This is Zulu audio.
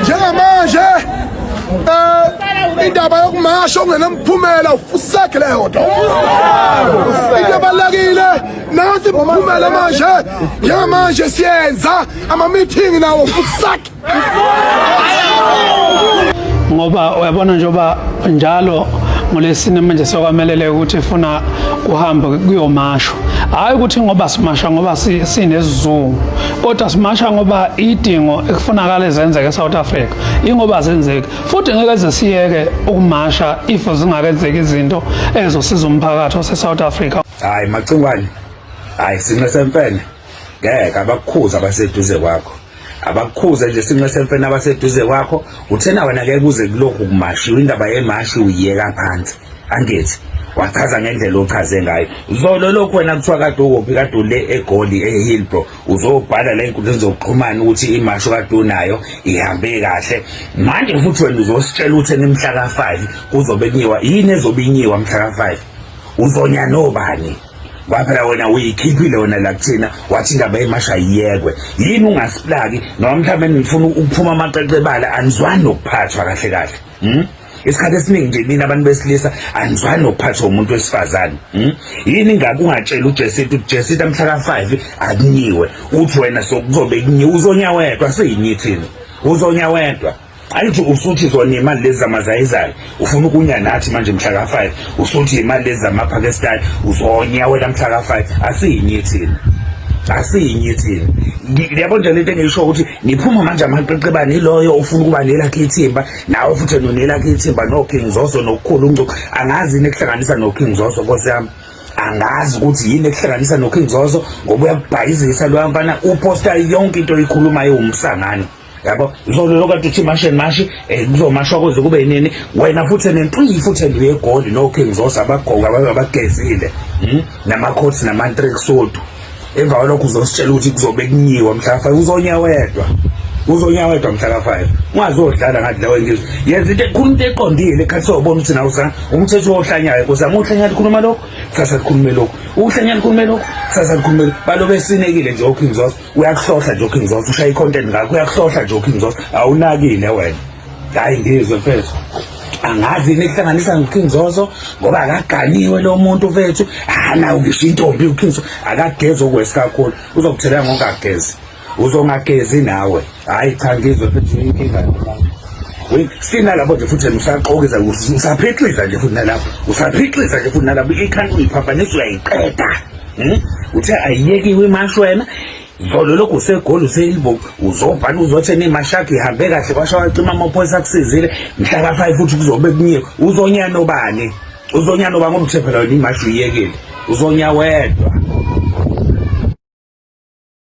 njengamanje um indaba yokumasha ongenamphumela ufusakhe leyo nto into ebalulekile nansi mphumela manje njengamanje siyenza amamithingi nawo fusakhe ngoba uyabona njengoba njalo ngolesine manje sokwamelele ukuthi funa kuhambe kuyomashwa hayi ukuthi ngoba simasha ngoba sinesizungu kodwa simasha ngoba idingo ekufunakala ezenzeke eSouth Africa ingoba zenzeki futhi ngeke zesiyeke ukumasha if zingakenzeki izinto ezosiza umphakathi oseSouth Africa hayi macingwane hayi sinqe semfene ngeke abakukhuza abaseduze kwakho abakukhuze nje sinxe semfene abaseduze kwakho uthena wena ke kuze kulokhu kumashi indaba yemashi uyiyeka phansi angithi wachaza ngendlela ochaze ngayo zolo lokhu wena kuthiwa kade ukuphi kade ule egoli ehillbro uzobhala la enkundleni zokuxhumana ukuthi imasho kade unayo ihambe kahle manje futhi wena uzositshela ukuthi enimhla ka-five kuzobe kunyiwa yini ezobe inyiwa mhla ka-five uzonya nobani kwaphela wena uyikhiphile wena la kuthina wathi indaba yemasha yiyekwe yini ungasiplaki noma mhlawumbe nifuna ukuphuma amaqeqe ebala anizwani nokuphathwa kahle kahle hmm? isikhathi esiningi nje mina abantu besilisa anizwani nokuphathwa umuntu wesifazane hmm? yini ngabe ungatshela ujesita ukuthi jesita mhla ka-five akunyiwe uthi wena sokuzobe kunyiwe uzonya wedwa siyinyi thina uzonya wedwa Angithi usuthi zona imali lezi zamazayizayo ufuna ukunya nathi manje mhla ka 5 usuthi imali lezi zamaPakistan uzonya wena mhla ka 5 asiyinye thina asiyinye thina liyabo nje lento engiyisho ukuthi niphuma manje amaqeqebane iloyo ofuna ukuba nelakhe ithimba nawe futhi nonelakhe ithimba no King Zoso nokukhulu uncuku angazi nekuhlanganisa no King Zoso nkosi yami angazi ukuthi yini ekuhlanganisa no King Zoso ngoba uyakubhayizisa lo mfana uposta yonke into oyikhulumayo umsangano yabo ngizoloyo kade uthi mashi and mashi eh, kuzomashwa kuze kube yinini wena futhi nentuyi futhi enduye egoli no King Zosa abagqoka babe abagezile hmm? namakhosi namantrek sodu emva kwalokho uzositshela ukuthi kuzobe kunyiwa mhla fa uzonya wedwa uzonya wedwa mhla ka 5 ungazodlala ngathi lawe ngizwe yenza into ekhulu into eqondile ekhathi sobona ukuthi nawu sana umthetho ohlanyayo kuza muhlanya likhuluma lokho sasa likhulume lokho uhlanya likhulume lokho sasa likhulume balo besinekile nje oKing Zosa uyakuhlohla nje uKing Zoso ushaya icontent ngakho uyakuhlohla nje uKing Zoso awunakile wena hayi ngizwe mfethu angazi yini ekuhlanganisa noKing Zoso ngoba akaganiwe lo muntu mfethu anawo ngisho intombi uKing Zoso akagezi okwesikakhulu uzokuthelela ngokagezi uzongagezi nawe hayi cha ngizwe phethu inkinga yomama sina lapho nje futhi usaqokiza usaphixisa nje futhi nalapho usaphixisa nje futhi nalapho ikhanda uyiphambanisa uyayiqeda hmm? uthe ayiyekiwe imashi wena zolo lokhu usegoli useyilbo uzobhala uzothena imashakhi ihambe kahle kwasha wacima amaphoyisa akusizile mhla ka-five futhi kuzobe kunye uzonya nobani uzonya nobani ngoba uthe phela wena imashi uyiyekile uzonya wedwa